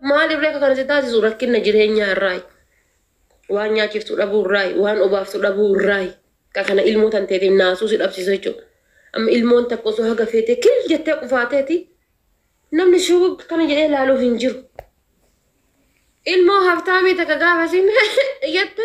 Maaliif reeka kana si taasisu rakkinna jireenyaa irraayi. Waan nyaachiftu dhabuu irraayi, waan obaaftu dhabuu irraayi. Ka kana ilmoo tanteetiin naasuu si dhabsiisu jechuudha. Amma ilmoon takka osoo haga feetee kil jettee qufaateeti namni shugug kana jedhee laaluuf hin jiru. Ilmoo haftaamii takka gaafa siin jette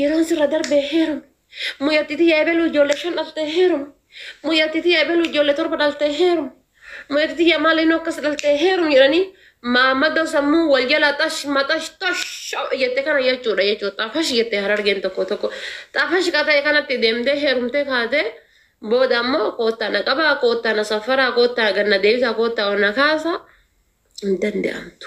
Yeroon sirra darbee heerumi. Mucatti tiyya ebelu ijoollee shan dhaltee heerumi. Mucatti tiyya ebelu ijoollee torba dhaltee heerumi. Mucatti tiyya maaliin akkas dhaltee heerumi jedhanii maamadoo sammuu wal jalaa xash maxash tosh jette kana jechuudha jechuudha. Xafash jette harargeen tokko tokko. Xafash ka ta'e kanatti deemtee heerumtee kaatee booda ammoo koottaa na qabaa koottaa na safaraa koottaa ganna deebisaa koottaa ol na kaasaa hin danda'amtu.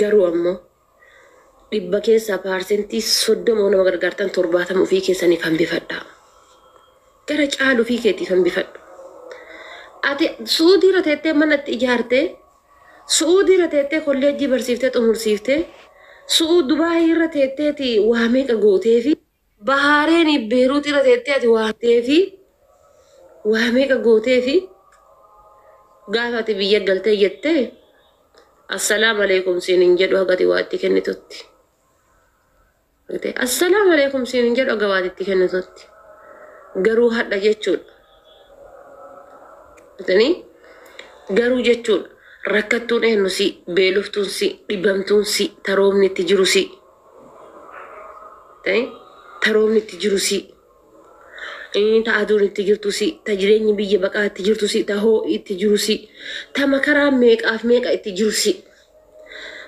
Garuu ammoo, dhibba keessaa paarsentii 30 yoo nama gargaartan 70 ufii keessaniif hambifadhaa. Gara caalu ufii keetiif hambifadhu. Ati Su'uudii irra teettee mana itti ijaartee, Su'uudii irra teettee kolleejjii barsiiftee xumursiiftee, Su'u Dubaayii irra teetteeti waa meeqa gooteefi, Bahaareenii Beeruut irra teettee ati waa teefi waa meeqa gooteefi gaafa ati biyya galtee jette assalaam aleekum siin hin jedhu haga ati waa itti kennitutti. Assalaam aleekum siin hin jedhu haga waa itti kennitutti. Garuu hadha jechuudha. Atanii garuu jechuudha. Rakkattuun eenyu si beeloftuun si dhibamtuun si taroomni itti jiru si. Eh, ta roobni itti jiru si Eh, ta aduun itti jirtu si ta jireenyi biyya baqaa itti jirtu si ta hoo'i itti jiru si ta makaraa meeqaaf meeqa itti jiru si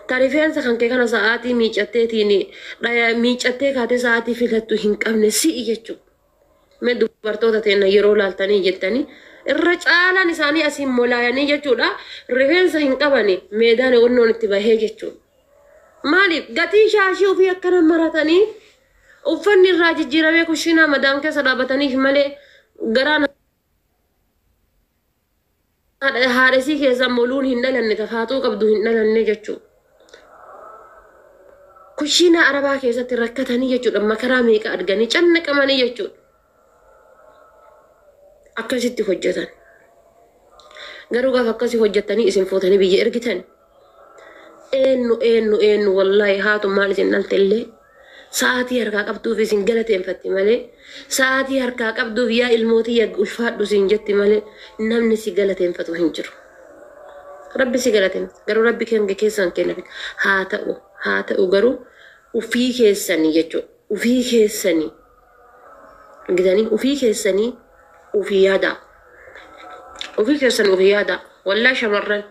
ta rifeensa kan kee kana sa'aatii miicatteetiin dhaya miicattee kaatee sa'aatii filattu hin qabne si'i jechuudha. Mee dubartoota teenna yeroo laaltanii jettanii irra caalaan isaanii asiin molaayanii jechuudha rifeensa hin qabani meedaan onnoon itti bahee jechuudha. Maaliif gatii shaashii ofii akkana maratanii uffanni irraa jijjiiramee kushiinaa madaam keessa dhaabataniif malee garaan Haadha haadha isii keessaa moluun hin dhalanne tafaaxuu qabdu hin dhalanne jechuu. Kushiinaa arabaa keessatti rakkatanii jechuudha makaraa meeqa arganii cannaqamanii jechuudha. Akkasitti hojjetan. Garuu gaafa akkasii hojjettanii isin fuutanii biyya ergitan Eennu eennu eennu wallaahi haatu maal isin dhalte illee sa'aatii harkaa qabduuf isin galateeffatti malee sa'aatii harkaa qabduuf yaa ilmootii yaa ulfaadhu isin jetti malee namni si galateeffatu hin jiru. Rabbi si galateeffatu garuu rabbi keenya keessan kenna haa ta'u haa ta'u garuu ufii keessanii jechuudha ufii keessanii argitanii ufii keessanii ufii yaadaa ufii keessan ufii yaadaa wallaahi shamarran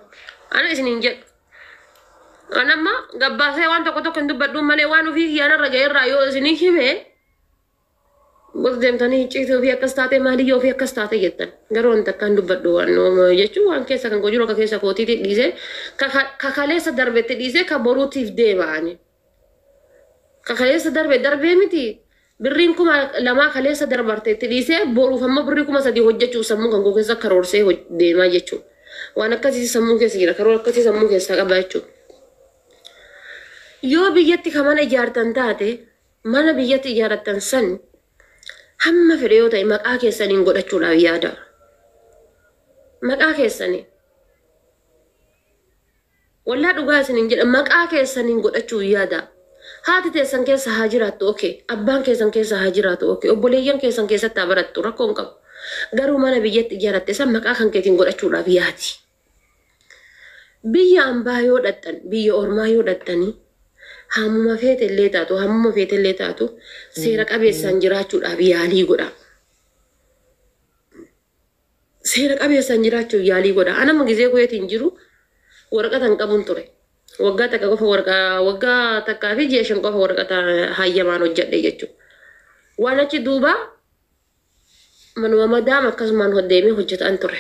ana isin hin jedhu an amma gabbaasee waan tokko tokko hin dubbadhuun malee waan ufii kiyyaanarra ga'erraa yoo isinii hime bos deemtanii icciitii ofii akkas taatee maaliyyoo ofii akkas taatee jettan garuu wanta akkaan dubbadhu waan jechuun waan keessa kan koo jiru akka keessa kootiitti dhiisee kakaleessa darbetti dhiisee ka boruutiif deebi'anii Kaleessa darbe darbee miti birriin kuma lamaa kaleessa darbarte itti dhiisee boruuf amma birrii kuma sadii hojjechuuf sammuu kan koo keessa karoorsee deemaa jechuudha. Waan akkasii sammuu keessa jira karoora akkasii sammuu keessaa qaba jechuudha. Yoo biyyatti kan mana ijaartan taate mana biyyatti ijaaratan san hamma fedhe yoo ta'e maqaa keessaniin godhachuudhaaf yaada. Maqaa keessanii. Wallah dhugaa isinin jedha maqaa keessanin godhachu hin yaadaa haati teessan keessa haa jiraattu ok abbaan keessan keessa haa jiraatu ok obboleeyyan keessan keessatti haa barattu rakkoo hin qabu garuu mana biyyatti ijaaratte san maqaa kan keetin godhachuudhaaf yaadi biyya ambaa yoo dhaqxan biyya ormaa yoo dhaqxanii haamuma feete illee taatu haamuma feete illee taatu seera qabeessaan jiraachuudhaaf yaalii godhaa seera qabeessaan jiraachuuf yaalii godha. An amma gizee Kuweetiin jiru waraqata hin qabun ture. Waggaa takka qofa warqa waggaa takkaa fi ji'a shan qofa waraqata hayyamaan hojjedhe jechuudha. Waan achi duuba manuma madaam akkasumaan hoddeemee hojjetaan ture.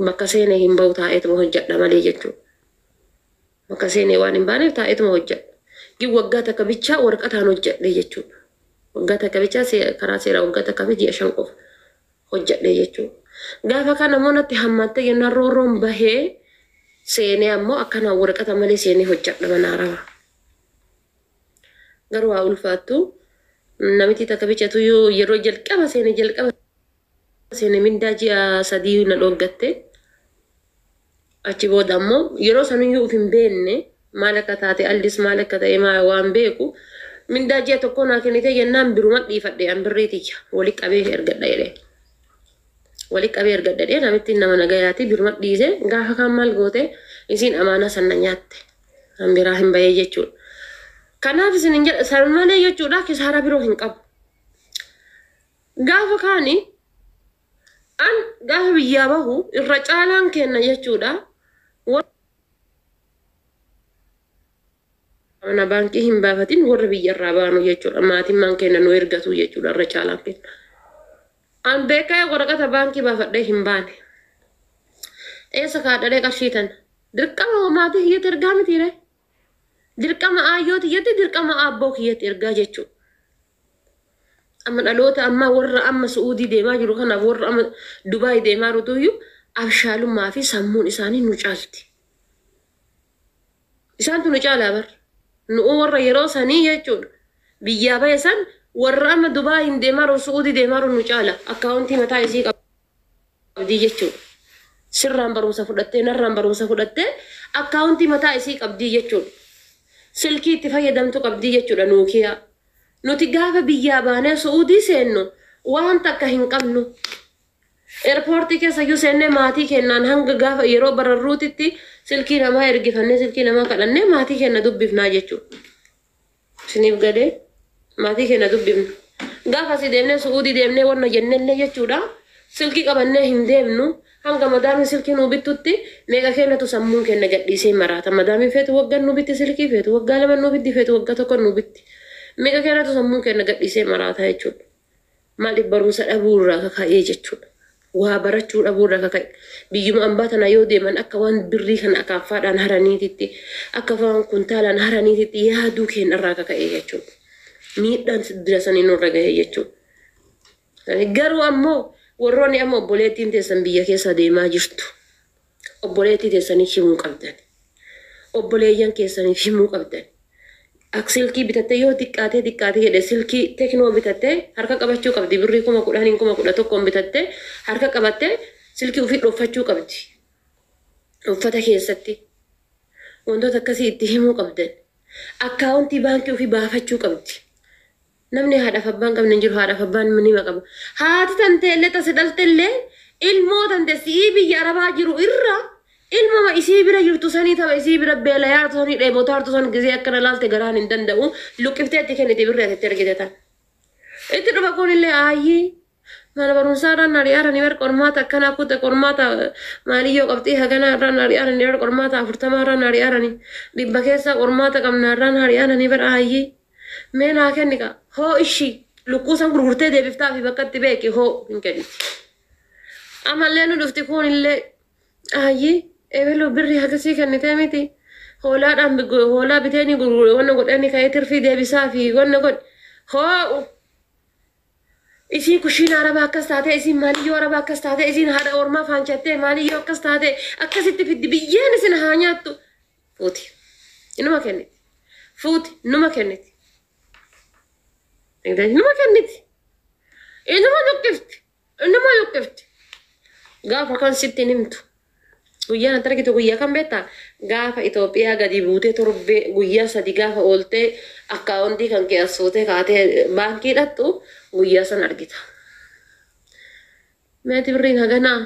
Bakka seene hin bahu taa'eetuma hojjedha malee jechuudha. Bakka seenee waan hin baaneef taa'eetuma hojjedha. Gin waggaa takka bichaa waraqataan hojjedhe jechuudha. Waggaa takka bichaa se- karaa seeraa waggaa takkaa fi ji'a shan qofa hojjedhe jechuudha. Gaafa kana immoo natti hammaattee jennaan roorroon bahee seenee ammoo akkanaan waraqata malee seenee hojjedha mana harawa. Garuu haa ulfaattu namitii takka bichatu yoo yeroo jalqaba seene jalqaba seene mindaa ji'a sadii na dhooggatte. Achi booda ammoo yeroo sanuyyuu uf hin beenne maal akka taate Aldis maal akka ta'e maa waan beeku mindaa ji'a tokkoo naa kennitee jennaan biruma dhiifadhe an birrii tiyya wali qabee ergadha jedhee. Wali qabee ergadha jedhee namittiin nama nagayaati biruma dhiise gaafa kaan maal goote isiin amaanaa san na nyaatte an biraa hin bahee jechuudha. Kanaaf isin hin jedha san malee jechuudha kisaaraa biroo hin qabu. Gaafa kaani an gaafa biyyaa bahu irra caalaan keenna jechuudha warra mana baankii hin baafatin warra biyya irraa baanu jechuudha maatimmaan keenna nu ergatu jechuudha irra caalaan keenna. An beekaa waraqata baankii baafadhee hin baane. Eessa kaadhalee qarshii tan dirqama maatii kiyyatti ergaa mitiiree dirqama aayyoo tiyyatti dirqama aabboo kiyyatti ergaa jechuudha. Amma dhaloota ammaa warra amma Su'uudii deemaa jiru kanaaf warra amma Dubaay deemaa jirutuyyuu abshaalummaa fi sammuun isaanii nu caalti. Isaantu nu caalaa bar. Nu'uu warra yeroo sanii jechuudha. Biyyaa bahe san warra amma Dubaayiin deemaa jiru Su'uudii deemaa jiru nu caala. Akkaawuntii mataa isii qaba. qabdi jechuudha. Sirraan barumsa fudhattee, narraan barumsa fudhattee akkaawuntii mataa isii qabdi jechuudha. Silkii itti fayyadamtu qabdi jechuudha Nuukiyaa. Nuti gaafa biyyaa baanee Su'uudii seennu waan takka hin qabnu. Erpoortii keessa iyyuu seennee maatii keennaan hanga gaafa yeroo bararruutitti silkii namaa ergifannee silkii namaa kadhannee maatii keenna dubbifnaa jechuudha. Isiniif galee maatii keenya dubbifna. Gaafa asii deemnee Su'uudii deemnee wanna jennellee jechuudha silkii qabannee hin deemnu hanga madaamiin silkii nuu bittutti meeqa keenyatu sammuun keenya gadhiisee maraata madaamiin feetu waggan nuu bitti silkii feetu waggaa laman nuu bitti feetu wagga tokkon nuu bitti meeqa keenyatu sammuun keenya gadhiisee maraata jechuudha. Maaliif barumsa dhabuu irraa kaka'ee jechuudha. Waa barachuu dhabuu irraa kaka'e. Biyyuma ambaa tana yoo deeman akka waan birrii kana akaaffaadhaan haraniititti, akka waan kuntaalaan haraniititti yaaduu keenya irraa kaka'e jechuudha. Miidhaan dila sanii nurra gahe jechuudha. Garuu ammoo warroonni amma obboleettiin teessan biyya keessa deemaa jirtu. Obboleettii teessaniif himuu qabdan. Obboleeyyan keessaniif himuu qabdan. Ak silkii bitattee yoo xiqqaatee xiqqaate jedhe silkii teknoo bitattee harka qabachuu qabdi birrii kuma kudhaniin kuma kudha tokkoon bitattee harka qabattee silkii ufii dhoffachuu qabdi. Uffata keessatti wantoota akkasii itti himuu qabdan. Akkaawuntii baankii ufii baafachuu qabdi. Namni haadhaaf abbaa hin qabne hin jiru, haadhaaf abbaan nima qaba. Haati tantee illee ta si dhalte illee ilmoo tante si'ii biyya arabaa jiru irra ilmoma isii bira jirtu sanii tama isii bira beelayaatu sanii dheebotaartu san gizee akkana laalte garaan hin danda'u luqqiftee itti kenniti birri ati itti ergite tan. Itti dhufa kun illee aayii Mana barumsaa irraa na ari'aarani bar qormaata akkanaa kuta qormaata maaliyyoo qabxii haganaa irraa na ari'aarani bar qormaata afurtamaa irraa na ari'aarani dhibba keessaa qormaata qabnaa irraa na ari'aarani bar aayyii mee naa kenni kaa hoo ishi lukkuu san gurgurtee deebiftaa fi bakka itti beeki hoo hin kenni amallee nu dhufti kuun illee aayyii eebeluu birri hagasii kennitee miti hoolaadhaan hoolaa biteenii gurgure wanna godhani ka'ee tirfii deebisaa fi wanna godhi hoo Isiin kushiina arabaa akkas taatee isiin maaliyyoo arabaa akkas taatee isiin haadha ormaa faanchattee maaliyyoo akkas taatee akkasitti fiddi biyyeen isin haa nyaattu fuuti inuma kenniti fuuti numa kenniti numa kenniti inuma luqqifti inuma luqqifti gaafa kan sitti hin himtu Guyyaan ati argitu guyyaa kam beektaa? Gaafa Itoophiyaa gadi buutee torbee guyyaa sadi gaafa ooltee akkaawondii kan kee as fuutee kaatee baankii dhaqxu guyyaa san argita. Meeti birriin haganaa?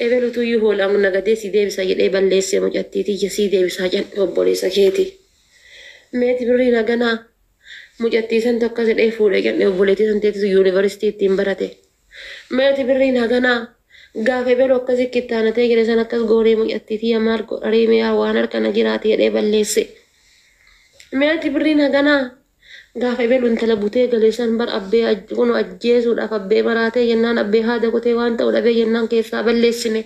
Ebelutu iyyuu hoolaan nagadee sii deebisa jedhee balleessee mucattii tiyya sii deebisaa jedhe obboleessa keeti. Meeti birriin haganaa? Mucattii santu akkas jedhee fuudhe jedhe obboleettii san teetitu yuunivarsiitii ittiin barate. Meeti birriin haganaa? Gaafa ebelu akkasi kittaanatee jedhe san akkas goonee mucattii tiyya maal godha ree mee waan harka na jiraati jedhee balleesse. Meeti birriin haganaa? Gaafa ebelu intala butee gale san bar abbee kunu ajjeesuudhaaf abbee maraatee jennaan abbee haada kutee waan ta'u dhabee jennaan keessaa balleessine.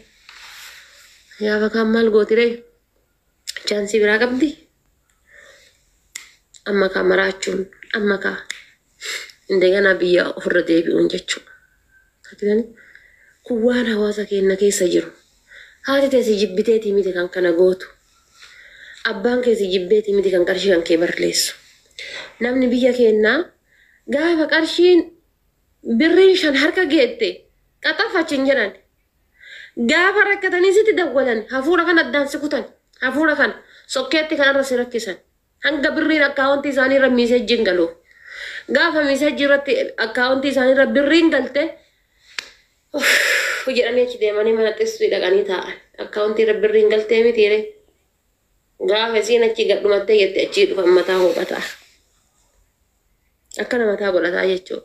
Gaafa kaan maal gooti ree? Chaansii biraa qabdi? Amma kaa maraachuun, amma kaa indeganaa biyya ofirra deebi'uun jechuudha. Argitanii? Kun waan hawaasa keenya keessa jiru. Haati tee si jibbiteetii miti kan kana gootu. Abbaan kee si jibbeetii miti kan qarshii kan kee barleessu. Namni biyya keenyaa gaafa qarshiin birriin shan harka geette qaxafachi hin jedhan. Gaafa rakkatanii sitti dawwalan hafuura kana addaan si kutan. Hafuura kana sokkeetti kanarra si rakkisan. Hanga birriin akkaawontii isaanii irra miiseejjiin galuuf. Gaafa miiseejjii irratti akkaawontii isaanii irra birriin galte uff jedhanii achi deemanii mana xistii dhaqanii taa'an. Akkaawontii irra birriin galtee mitiire. Gaafa isiin achi gadhumattee jette achii dhufan mataa hooqataa. akkana mataa godhataa jechuu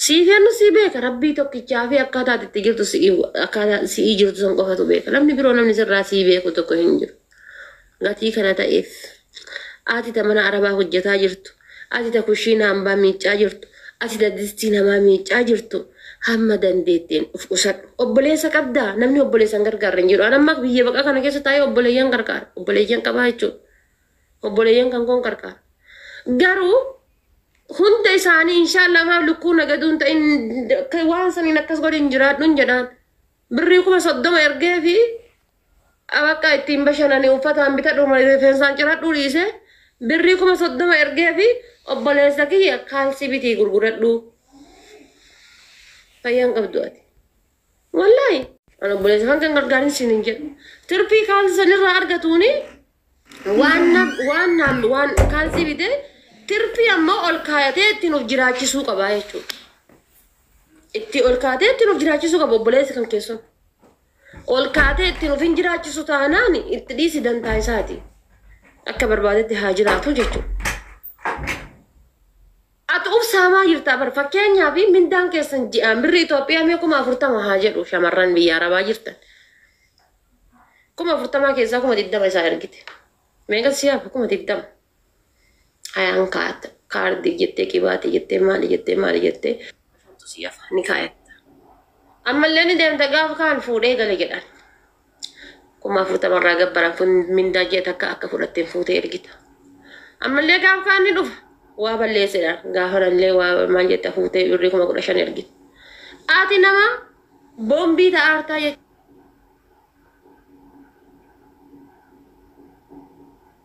siif yannu sii beeka rabbii tokkichaa fi akkaataa ati itti jirtu si'i akkaataa si'ii jirtu san qofatu beeka namni biroo namni sirraa sii beeku tokko hin jiru gatii kana ta'eef ati ta mana arabaa hojjetaa jirtu ati ta kushiina hambaa miiccaa jirtu ati ta distii namaa miiccaa jirtu hamma dandeetteen of qusadhu obboleessa qabdaa namni obboleessan gargaarra hin jiru an amma biyya baqaa kana keessa taa'ee obboleeyyan gargaara obboleeyyan qabaa jechuudha obboleeyyan kan koon qarqaara. Garuu hunda isaanii inshaallah maaf lukkuu nagaduun ta'in akka waan saniin akkas godhin jiraadhun jedhaan. Birrii kuma soddoma ergee fi abaqqa ittiin bashananii uffataan bitadhu malee rifeensaan ciradhuu dhiise birrii kuma soddoma ergee fi obboleessa kiyya kaalsii bitii gurguradhuu. Fayyaan qabdu ati. Wallaahi an obboleessa hanga hin gargaarin siin hin jedhu. Tirpii kaalsii sanirraa argatuuni waan na- waan naam- waan kaalsii bitee tirpii ammoo ol kaayatee ittiin of jiraachisuu qaba jechuudha. Itti ol kaatee ittiin of jiraachisuu qaba obboleessi kan keessan. Ol kaatee ittiin of hin jiraachisu taanaan itti dhiisi dantaa isaati. Akka barbaadetti haa jiraatu jechuudha. Ati uf saamaa jirtaa bar fakkeenyaaf mindaan keessan ji'aan birri Itoophiyaa mee kuma afurtama haa jedhu shamarran biyya arabaa jirtan kuma afurtamaa keessaa kuma digdama isaa ergite meeqa si hafa kuma digdama hayaan kaata kaardii jettee qibaatee jettee maali jettee maali jettee shantu si hafa ni kaayatta ammallee ni deemta gaaf kaan fuudhee gale jedhan kuma afurtama irraa gabbaran kun mindaa ji'a takka akka fudhatte hin fuute ergita. Ammallee gaanfaan ni dhufa. Waa balleessedha. Gaafanallee waa maal jetta fuutee birrii kuma kudha shan ergita. Ati nama boombii ta'aa hartaa jechuudha.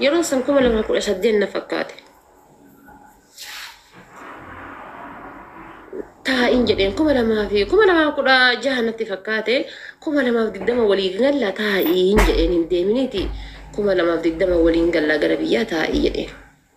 Yeroon san kuma lama kudha saddeet na fakkaate. Taa'in jedheen kuma lamaa fi kuma lamaa kudha jaha natti fakkaate kuma lamaaf digdama waliin galla taa'in jedheen hin deeminiiti kuma lamaaf digdama waliin galla gara biyyaa taa'ii jedheen.